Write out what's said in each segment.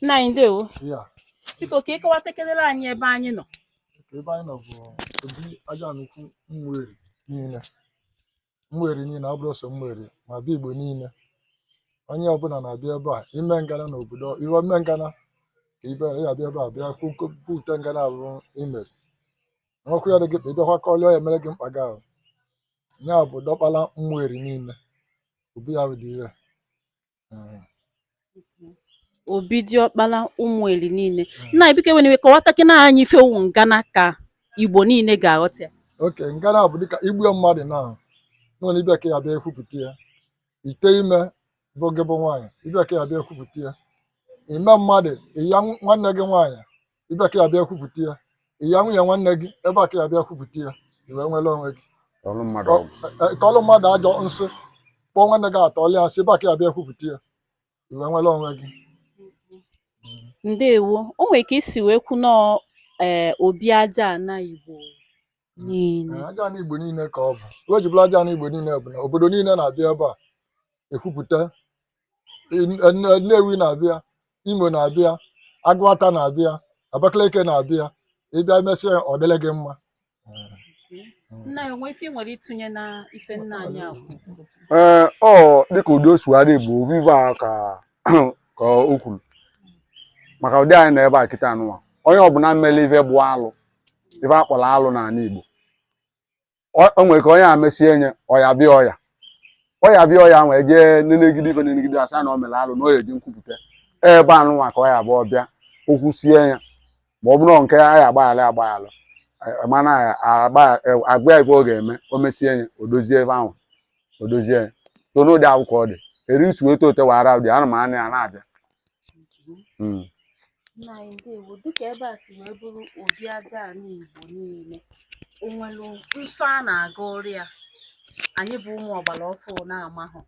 nna anyị ndewo ya biko ka ị kọwatakenere anyị ebe anyị nọ ka ebe anyị nọ bụ obi aja ana ukwu ụmụeri niile ụmụeri niile ọ bụrọ sọ ụmụeri ma bịa igbo niile onye ọbụla na-abịa ebe a i mee ngana na obodo i wee mee ngana ka ibe ya abịa ebe a bịa kwupụta ngana abụrụ imeri nwekwa ya dị gị mkpa ị bịakwa kọọlị ya e meere gị mkpa gị ahụ ya bụ diọkpala ụmụeri niile obi ya dị ire obi diọkpara ụmụeri niile nna anyị biko i nwere ike kọwatakene anyị ife wụ ngana ka igbo niile ga-aghọta ya oke ngana bụ dịka i gbuo mmadụ na nwere ebe a ka ị ya-abịa ekwupụta ya ite ime bụ gị bụ nwaanyị ebe a ka ị ya-abịa ekwupụta ya ime mmadụ ịya nwanne gị nwaanyị ebe a ka ị ya-abịa kwupụta ya ịya nwunye nwanne gị ebe a ka ị ya-abịa kwupụta ya i wee nwere onwe gị kọọlụ mmadụ ọgwụ E- tọọlụ mmadụ ajọ nsị kpọọ nwanne gị tọọlụ ya nsị ebe a ka ị ya-abịa kwupụta ya i wee nwere onwe gị ndewo o nwere ka i si wee kwu nọọ ee obi aja ana igbo niile Ee, aja ana igbo niile ka ọ bụ ife o ji bụlụ aja ana igbo niile bụ na obodo niile na-abịa ebe a ekwupụta In- Nne- nnewi na-abịa imo na-abịa agụata na-abịa abakaliki na-abịa ị bịa mesịa ya, ọ dịrị gị mma nna anyị o nwe ife ị nwere ịtụnye na ife nna anyị a kwuru ee ọ dịka ụdị o sugharị igbo ive a ka ka o kwuru maka ụdị anyị nọ ebe a kịta anụnwa onye ọbụla mere ife bụ alụ ife a kpọrọ alụ n'ana Igbo o nwere ka onye ya-emesie nya ọya bịa ọya ọya bịa ọya e wee jee nenegide ife nenegide a sị na o mere alụ na ọ ya-eje nkwupụta ebe a nụnwa ka ọ ya-abụ ọ bịa o kwusie ya ma ọ bụrụ nke a ya agbaghara agbaghara e, e, mana a gwa e, ya ife ọ ga-eme o mesie ya o dozie ebe ahụ o dozie ya so n'ụdị ahụ ka ọ dị eri isi wee tote wara ụdị ana m anụ ya na-abịa Mm. nna anyị ndewo dịka ebe a si wee bụrụ obi aja ana igbo niile o nwere nsọ a na-aga ọrụ ya anyị bụ ụmụ ọgbara ọfụụ na-amahụ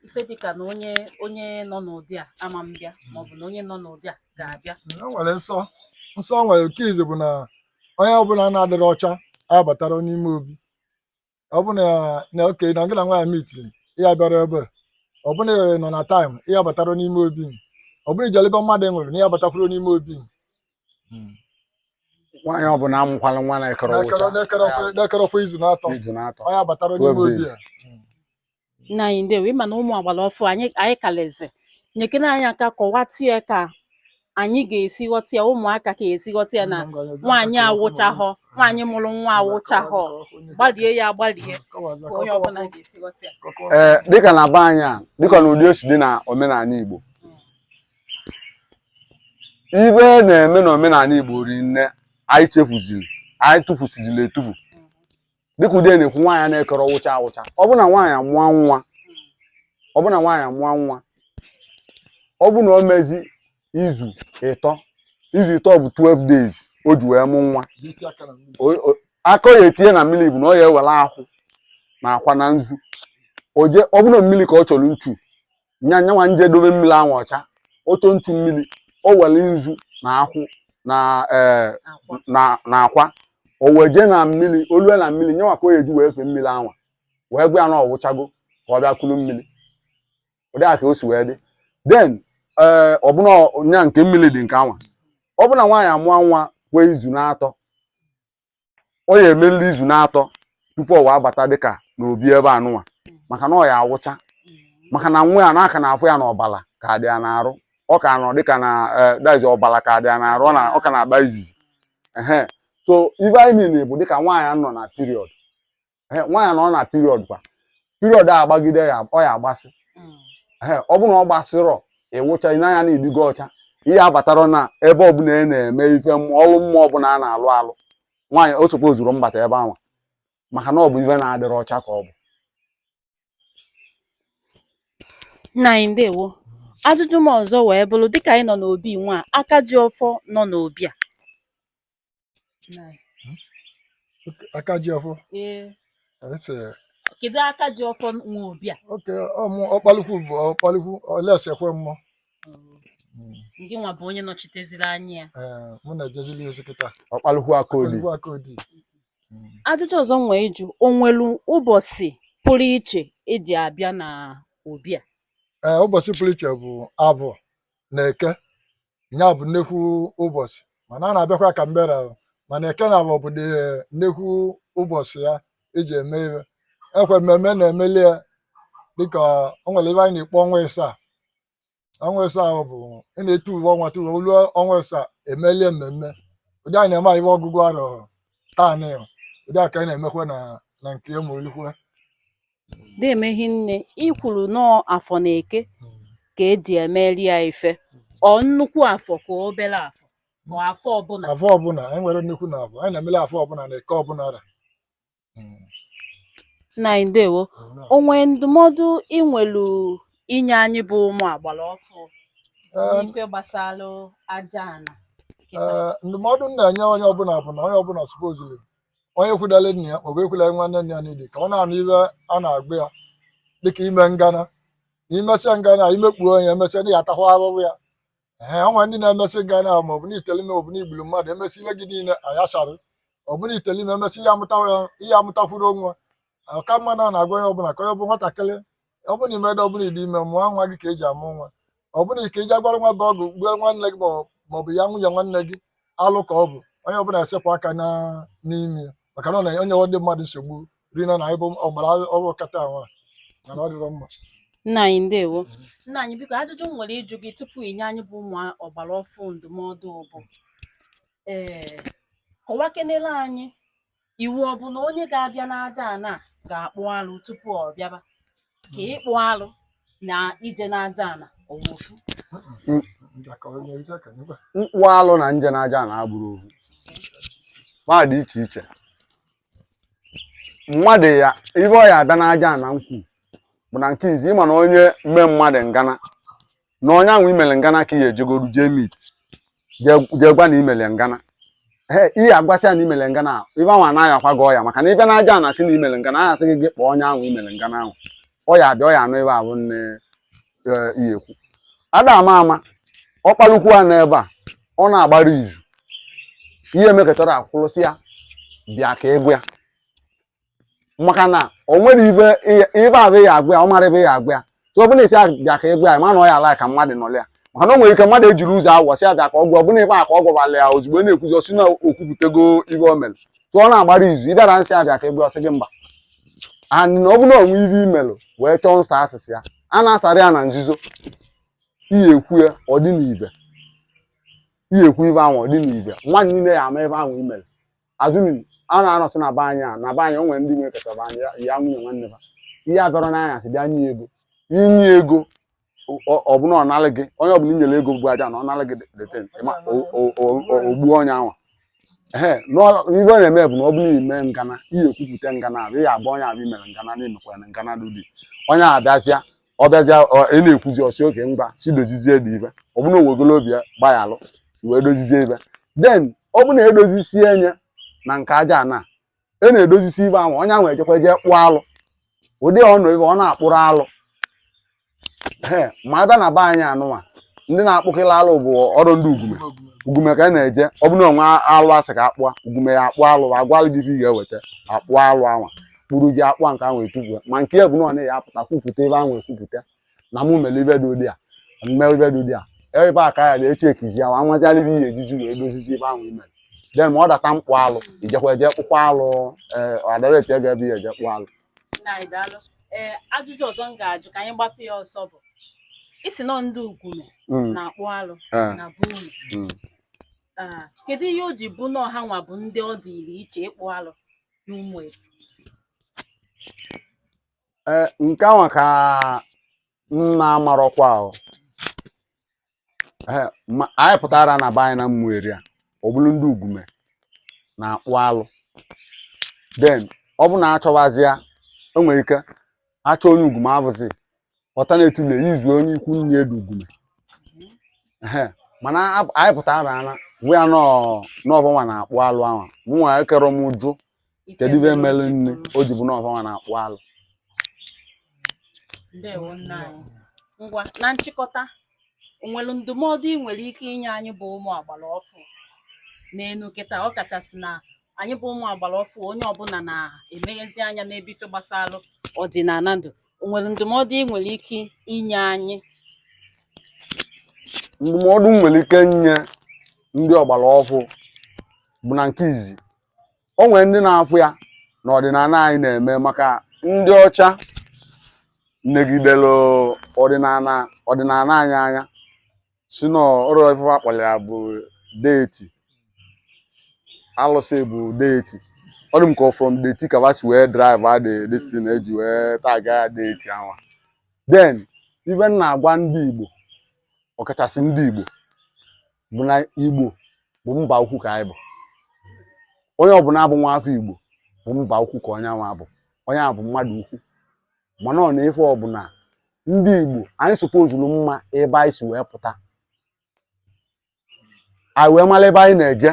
ife dịka na onye onye nọ n'ụdị a ama mbịa maọbụ na onye nọ n'ụdị a ga-abịa o nwere nsọ nsọ o nwere nke izizi bụ na onye ọbụla na-adịrọ ọcha abatarọ n'ime obi ọ bụ na nwoke na gị na nwaanyị mitili ị ya bịarọ ebe a. ọ bụ na ị nọ na taịm ị ya batarọ n'ime obi. ọ bụ na i jelu ebe mmadụ nwụrụ na ị ya batakwurọ n'ime obi a. nwaanyị ọbụla mụkwala nwa na-ekere N'ekere- ụcha n'ekere ọkwa- n'ekere ọkwa izu na atọ izu na-atọ ọ ya batarọ n'ime Obi obi izu. ya Nna anyị ndewo, ị ma na ụmụ agbara ọfụụ anyị kalịzị nyekere anyị aka kọwatụ ya ka anyị ga-esi ghọta ya ụmụaka ka e si ghọta ya na nwaanyị awụchahọ nwaanyị mụrụ nwa awụchahọ gbarie ya agbarie ka onye ọbụla ga-esi ghọta ya ee dịka na be anyị a dịka na ụdị o si dị na omenala igbo ive a na-eme na omenala igbo ri nne anyị chefuziri anyị tufusiziri etufu dịka ụdị a na-ekwu nwaanyị na-akarọ wụcha awụcha ọ bụ na nwaanyị amụọ nwa ọ bụ na nwaanyị amụọ nwa ọ bụ na o mezi izu ịtọ izu ịtọ bụ 12 days o ji wee mụ nwa ka ọ ya etinye na mmiri bụ na ọ ya ewere akwụ na akwa na nzu o je ọ bụ na mmiri ka ọ chọrọ nchu nya nyanwa nje dobe mmiri anwa ọcha ọ chọ nchu mmiri o were nzu na akwụ na ee na na akwa o wee jee na mmiri o lue na mmiri nyanwa ka ọ ya eji wee fee mmiri anwa wee gwa ya na ọ wụchago ka ọ bịa kulu mmiri ụdị a ka o si wee dị then ee ọbụna nya nke mmiri dị nke anwa ọ bụ na nwaanyị amụọ nwa kwee izu na-atọ ọ ya emelili izu na-atọ tupu ọ wee bata dịka n'obi ebe anụnwa maka na ọ ya awụcha maka na nwa ya na a ka na-afụ ya na ọbala ka dị ya n'arụ ọ ka nọ dịka na eh, that is ọbala ka dị ya n'arụ ọ na- ọ ka na-agba izizi ehe so ife anyị niile bụ dịka nwaanyị nọ na period nwaanyị nọ na period kwa period a agbagide ya ọ ya agbasị mm. ọ bụ na ọ gbasịrọ ị wụcha n'anya na ị dịgo ọcha ị ya abatarọ na ebe ọbụla a na-eme ife ọrụ mmụọ ọbụla a na-alụ alụ nwaanyị o tozurọ mbata ebe anwa maka na ọ bụ ife na-adịrọ ọcha ka ọ bụ nna anyị ndewo ajụjụ m ọzọ wee bụrụ dịka anyị nọ n'obi nwa aka ji ọfọ nọ n'obi a aka ji ọfọ kedu aka ji ọfọ nwe obi a okay ọ bụ ọkpalukwu bụ ọkpalukwu olesekwe mmụọ gị nwa bụ onye nọchiteziri anya ya mụ na-ejezili ozi kịta ọkpalukwu aka odi ajụjụ ọzọ m nwee ịjụ o nwelu ụbọchị pụrụ iche e ji abịa na obi a ee ụbọchị pụrụ iche bụ avọ na eke nya bụ nnekwu ụbọchị mana a na-abịakwa ka mbera o. mana eke na avọ bụ the nnekwu ụbọchị a e ji eme ihe ekwe mmemme na-emeli ya dịka o nwere ive anyị na-akpọ ọnwa ịsaa ọnwa ịsaa ahụ bụ ị na-etu uwe ọnwa tuwe o lu ọnwa ịsaa e melie mmemme ụdị anyị na-eme ihe ọgụgụ arọ taa na ụdị a ka anyị na-emekwa na na nke ya ma olikwe na-eme hinne i kwuru na ọ afọ na eke ka eji emeri ya ife ọ nnukwu afọ ka obere afọ ma afọ ọbụla afọ ọbụla anyị nwere nnukwu na afọ anyị na-emele afọ ọbụla na eke ọbụla ra nna anyị ndewo o nwe ndụmọdụ ị nwelu inye anyị bụ ụmụ agbara ọfụ Ee, n'ife gbasara aja ana kịta. Ee, ndụmọdụ m na-enye onye ọbụla bụ na onye ọbụla supozili onye kwudala nna ya maọbụ ekwula nwanne nna ya niile ka ọ na-anụ ive a na-agwa ya dịka ime ngana na imesịa ngana imekpuo ọnụ emesịa na ị ya atakwa ahụhụ ya ee o nwe ndị na-emesị ngana ahụ maọbụ na itele ime maọbụ na igburu mmadụ emesị ihe gị niile ayasarị ọ bụ na itele ime emesị ị ya amụtakwurọ nwa ọka mma na na-agwa onye ọbụla ka onye bụ nwatakịrị ọ bụ na imedo ọ bụ na ị dị ime mụọ nwa gị ka eji amụ nwa ọ bụ nke eji agwara nwa bụ ọgwụ gbue nwanne gị ma ọ bụ ya nwunye nwanne gị alụ ka ọ bụ onye ọbụla esepụ aka n'ime ya maka na ọ na-enye ndị mmadụ nsogbu rinne na anyị bụ ọgbara ọfụ kịta nwa mana ọ dịrọ mma nna anyị ndewo nna anyị biko ajụjụ m nwere ịjụ gị tupu inye anyị bụ ụmụ ọgbara ọfụ ndụmọdụ bụ ee kọwakenere anyị Iwu ọ bụ na onye ga-abịa n'aja ana ga-akpụ alụ tupu ọ bịaba ka ịkpụ alụ na ije n'aja ana ọ bụ ofu mkpụ alụ na nje n'aja ana abụrọ ofu va dị iche iche mmadụ ya ibe ọ ya abịa n'aja ana nkwu bụ na nke izi ịma na onye mee mmadụ ngana na onye ahụ imere ngana ka ị ya ejegodu jee meet jee gwa na imere ngana ee ị ya agwa sị ya na imere ngana ahụ ive ahụ ana-ayakwa gị ọya maka na ị bịa n'aja ana sị na imere ngana ahụ a ya asị gị kpọọ onye ahụ imere ngana ahụ ọ ya abịa ọ ya anọ ebe ahụ nne e, ị ya ekwu ada ama ma ọ kpalukwu ya n'ebe a ọ na-agbara izu ị ya emekatara akwụlụ sị ya bịa ka ị gwa ya maka na o nwere ive ive a bụ ị ya agwa ya ọ mara ive ị ya agwa ya so ọ bụ na ị sị ya bịa ka ị gwa ya ma na ọ ya ala ka mmadụ nọrọ ya maka na o nwere ike mmadụ ejiri ụzọ awụwọ sị ya bịa ka ọ gwa ọbụna ibe a ka ọ gwawala ya ozugbo na-ekwuzi ọsị na okwupụtago ive o mere so ọ na-agbara izu ị bịara sị ya bịa ka ị gwa ọ sị gị mba and na ọ bụ na o nwe ive imelụ wee chọọ nsọ asịsị ya a na-asara ya na nzuzo ị ya ekwu ya ọ dị n'ibe ị ya ekwu ive ahụ ọ dị n'ibe ụwa niile ya ama ive ahụ imere assuming a na-anọsị na be anyị a na be anyị o nwere ndị nwere keta be anyị ya- ya nwunye nwanne ha ị ya abịara n'anya sị bịa nye ego inye ego ọ- ọ bụna ọ nalị gị onye ọbụla inyere ego bụ aja ana ọ nalị gị that thing o gbuo onye anwa ee ive ọ na-eme bụ na ọ bụ na ime ngana ị ya ekwupụta ngana ahụ ị ya agwa onye ahụ imere ngana na imekwara ngana dị onye a bịazịa ọ bịazịa ị na-ekwuzi ọ sị okay ngwa si dozizie dị ibe ọ bụrụ na o wegolo obi ya gbaghalụ wee dozizie ibe den ọ bụ na edozisie enye na nke aja ana na-edozisi ibe ahụ onye ahụ ejekwa jee kpụọ alụ ụdị ọnụ ibe ọ na-akpụrụ alụ ee ma abịa na be anyị anụnwa ndị na-akpụkịla alụ bụ ọrụ ndị Ugume Ugume ka a na-eje ọ bụrụ na o nwe alụ a sị ka a kpụa Ugume ya akpụọ alụ agwalụ gị ife ị ga-eweta akpụọ alụ anwa kpụrụ gị akpụ nke ahụ ekwupụ ma nke ya bụ na ọ na ya apụta kwupụta ebe ahụ ekwupụta na mụ mere ibe dị ụdị a mme ibe dị ụdị a ebe a ka ya na-eche ekizi ya nwa nwetara ibe ị ya-ejizi wee dozizi ibe ahụ i mere den ma ọ data mkpụ alụ i jekwa eje kpụkwa alụ ee a directigo ebe ị ya-eje kpụ alụ nna anyị daalụ ee ajụjụ ọzọ m ga-ajụ ka anyị gbapụ ya ọsọ bụ ị sị na ndị Ugume Mm, na-akpụ alụ eh, na be unu mm. Ah, kedu ihe o ji bụ na ọ ha nwa bụ ndị ọ dịrị iche ịkpụ alụ n'Umueri nke anwa ka m na-amarọkwa ahụ eh, anyị pụtara na be anyị n'Umueri a ọ bụrụ ndị Ugume na-akpụ alụ den ọ bụ na a chọwazịa o nwere ike achọ onye Ugume abụzi ọta na-etule izu onye ikwu nne dị Ugume mana anyị pụtara ana fụ ya na ọ va nwa na-akpụ alụ anwa mụ nwa ekerọ m jụ kedu ibe merenụ o ji bụ na ọ va nwa na-akpụ alụ ndewo nna anyị ngwa na nchịkọta o nwere ndụmọdụ ị nwere ike inye anyị bụ ụmụ ọgbara ọfụ n'enu kịta ọ kachasị na anyị bụ ụmụ ọgbara ọfụ onye ọbụla na-emeghezi anya n'ebe ife gbasara ọdịnala dụ o nwere ndụmọdụ ị nwere ike inye anyị ndụmọdụ m nwere ike nye ndị ọgbara ọfụ bụ na nke izi o nwere ndị na-afụ ya na ọdịnala anyị na-eme maka ndị ọcha negidere ọdịnala anyị anya sị na ọrụ ife a kpọrọ ya bụ deity alụsị bụ deity ọ dị m ka from dirty ka va si wee derive the destin eji wee taga ya deity ahụ den ibe m na-agwa ndị Igbo ọkachasị ndị Igbo bụ na Igbo bụ mba ukwu ka anyị bụ onye ọbụla bụ nwa afọ Igbo bụ mba ukwu ka onye anwa bụ onye a bụ mmadụ ukwu mana ọ n'ife ọbụla ndị Igbo anyị supposuru ịma ebe anyị si wee pụta anyị wee mara ebe anyị na-eje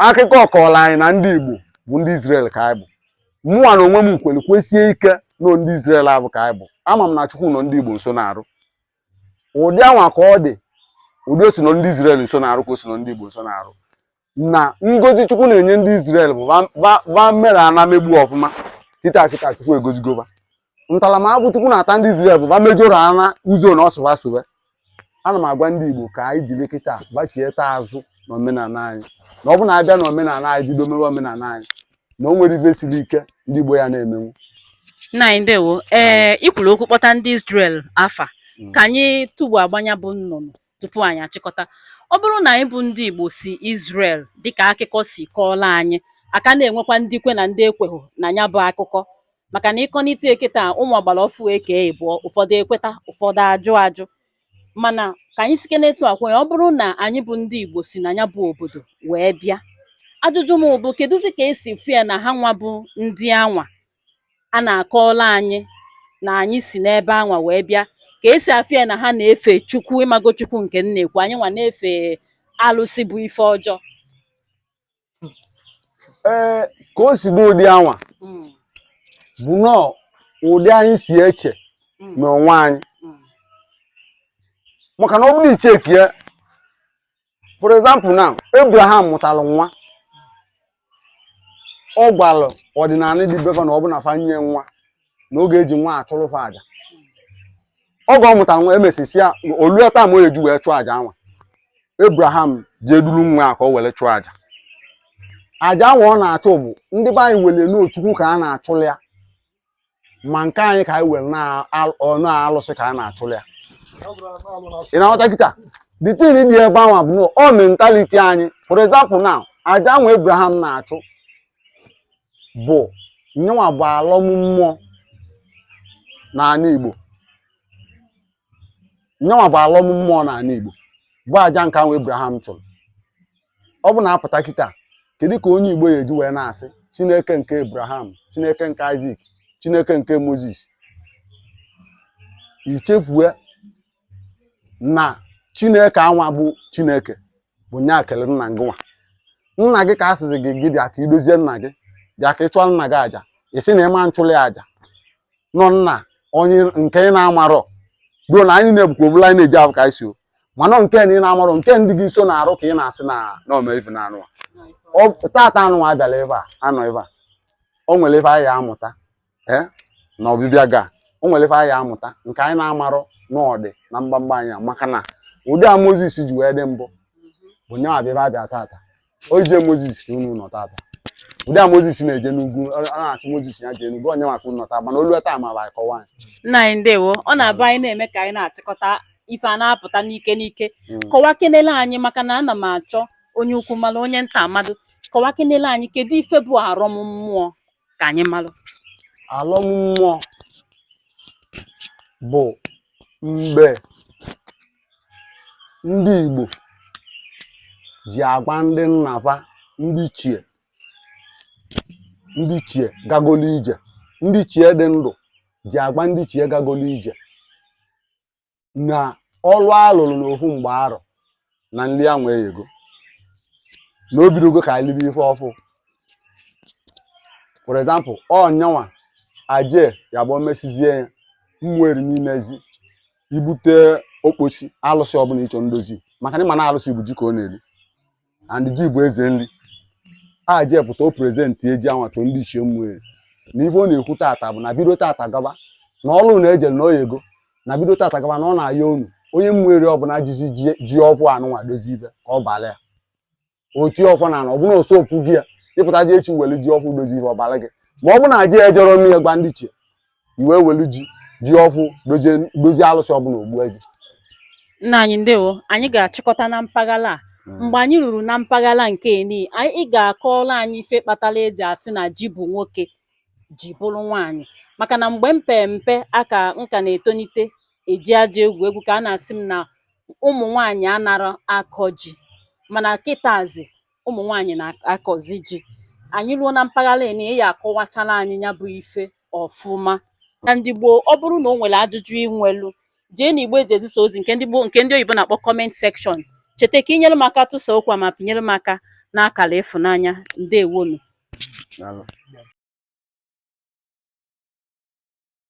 akụkọ kọọrọ anyị na ndị Igbo bụ ndị Izrel ka anyị bụ mụnwa na onwe m kwere kwesie ike na ndị Izrel ahụ ka anyị bụ ama m na Chukwu nọ ndị Igbo nso na-arụ ụdị anwa ka ọ dị ụdị o si nọ ndị Izrel nsọ na arụ ka o si nọ ndị Igbo nsọ na arụ na ngozi Chukwu na-enye ndị Izrel bụ va mere ana megbu ọfụma kịta kịta Chukwu egozigo va ntaramahụhụ Chukwu na-ata ndị Izrel bụ va mejọrọ ana ụzọ na ọsụwa sụwe ana m agwa ndị Igbo ka anyị jiri kịta gbachieta azụ n'omenala anyị na ọ bụ na a bịa n'omenala anyị bido mewe omenala anyị na o nwere ife siri ike ndị Igbo ya na-emenwu nna anyị ndewo ee ị kwuru okwu kpọta ndị Israel afa mm. ka anyị tugbu agba nya bụ nnụnụ tupu anyị achịkọta ọ bụrụ na anyị bụ ndị Igbo si Israel dịka akụkọ si kọọla anyị a ka na-enwekwa ndị kwe na ndị ekweghị na nya bụ akụkọ maka na ị kọnite ya kịta ụmụ agbara ofu ekee ịbụọ ụfọdụ ekweta ụfọdụ ajụ ajụ mana ka anyị sike n'etu a kwee ọ bụrụ na anyị bụ ndị Igbo si na nya bụ obodo wee bịa ajụjụ m bụ kedụzi ka e si fụ ya na ha nwa bụ ndị anwa a na-akọọla anyị na anyị si n'ebe anwa wee bịa ka e si afụ ya na ha na-efe Chukwu ị mago Chukwu nke m na-ekwu anyị nwa na-efe alụsị bụ ife ọjọọ ee ka o si dị ụdị anwa Mm, bụ nọọ ụdị anyị si eche mm, n'onwe anyị mm, maka na ọ bụrụ i checkie ya for example now Abraham mụtara nwa ọ gwara ọdịnala dị be va na ọ bụ na fa nye nwa na oge e ji nwa achụrụ fa aja oge ọ mụtara nwa emesisia olue taa ma o eji wee chụọ aja anwa Abraham jee duru nwa ya ka o were chụọ aja aja anwa ọ na-achụ bụ ndị be anyị were na ọ Chukwu ka a na-achụrụ ya ma nke anyị ka anyị were na ọ alụsị ka a na-achụrụ ya ị na-aghọta kịta the thing dị ebe anwa bụ na ọ mentality anyị for example now aja anwa Abraham na-achụ bụ nya nwa bụ alọm mmụọ n'ala Igbo nya nwa bụ alọm mmụọ n'ala Igbo bụ aja nke anwa Abraham chụrụ ọ bụ na a pụta kịta kedu ka onye Igbo ya eji wee na-asị Chineke nke Abraham Chineke nke Isaac Chineke nke Moses i chefue na chineke anwa bụ chineke bụ nya kelụ nna gị nwa nna gị ka a sịzi gị gị bịa ka i dozie nna gị bịa ka ị chụọ nna gị aja ị sị na ị ma nchụlị aja na ọ nna onye nke ị na-amarọ bụrụ na anyị na-ebukwa ovula anyị na-eji abụ ka anyị si o mana nke na ị na-amarọ nke ndị gị nsọ na arụ ka ị na-asị na na ome ife na anụ a. Ọ- tata anụ a bịara ebe a anọ ebe a o nwere ebe anyị amụta ee na ọbịbịa ga o nwere ife anyị amụta nke anyị na-amarọ n'ọdị na mgbamgba anyị a maka na ụdị a moses ji wee dị mbụ bụ nye abịa ebe abịa tata o jee moses ka unu nọ tata ụdị a moses na-eje n'ugwu ọ ọ na-asị moses ya jee n'ugwu onye ma ka unu nọ tata mana olu taa ma bụ akọwa anyị nna anyị ndewo ọ na-abụ anyị na-eme ka anyị na-achịkọta ife a na-apụta n'ike n'ike Mm. kọwakenele anyị maka na ana m achọ onye ukwu mara onye nta malụ kọwakenele anyị kedu ife bụ arọm mmụọ ka anyị malụ alọm mmụọ bụ mgbe ndị Igbo ji agwa ndị nna fa ndị ichie ndị ichie gagolu ije ndị ichie dị ndụ ji agwa ndị ichie gagolu ije na ọlụ a lụrụ n'ofu mgbe arọ na nri anwa eyego na o bidogo ka anyị libe ife ọfụ for example ọnyanwa aje ya bụ mesizie ya ụmụ eri n'imezi i bute okposi alụsị ọbụla ị chọ ndozi maka na ị ma na alụsị bụ ji ka ọ na-eri and ji bụ eze nri a ji pụta o presentie ji anwa to ndị ichie ụmụ eri na ife ọ na-ekwu tata bụ na bido tata gaba na ọlụ na ejere na o yego na bido tata gaba na ọ na-ayọ unu onye ụmụ eri ọbụla jizi ji ọfụ anụnwa dozie ife ka ọ bala ya o ti ọfọ na na ọbụna o sopụ gị ya ị pụtaji echi were ji ọfụ dozie ife ọ bala gị ma ọ bụ na ji ejọrọ nne ya gwa ndị ichie i wee welu ji ji ọfụ dozie alụsị ọbụla o gbue gị nna anyị ndewo anyị ga-achịkọta na mpaghara a hmm. mgbe anyị ruru na mpaghara nke eni ị ga-akọọla anyị ife kpatara e ji asị na ji bụ nwoke ji bụrọ nwaanyị maka na mgbe m pee mpe aka m ka na-etonite e ji aja egwu egwu ka a na-asị m na ụmụ nwaanyị anarọ akọ ji mana kịtazi ụmụ nwaanyị na-akọzi ji anyị ruo na mpaghara eni ị ya-akọwachala anyị ya bụ ife ọfụma ndị Igbo ọ bụrụ na o nwere ajụjụ i nwelu jee na igbe e ji ezisa ozi nke ndị oyibo na-akpọ comment section cheta ka i nyere m aka tụsa okwu a ma pịnyere m aka n'akara ịfụnanya ndewonụ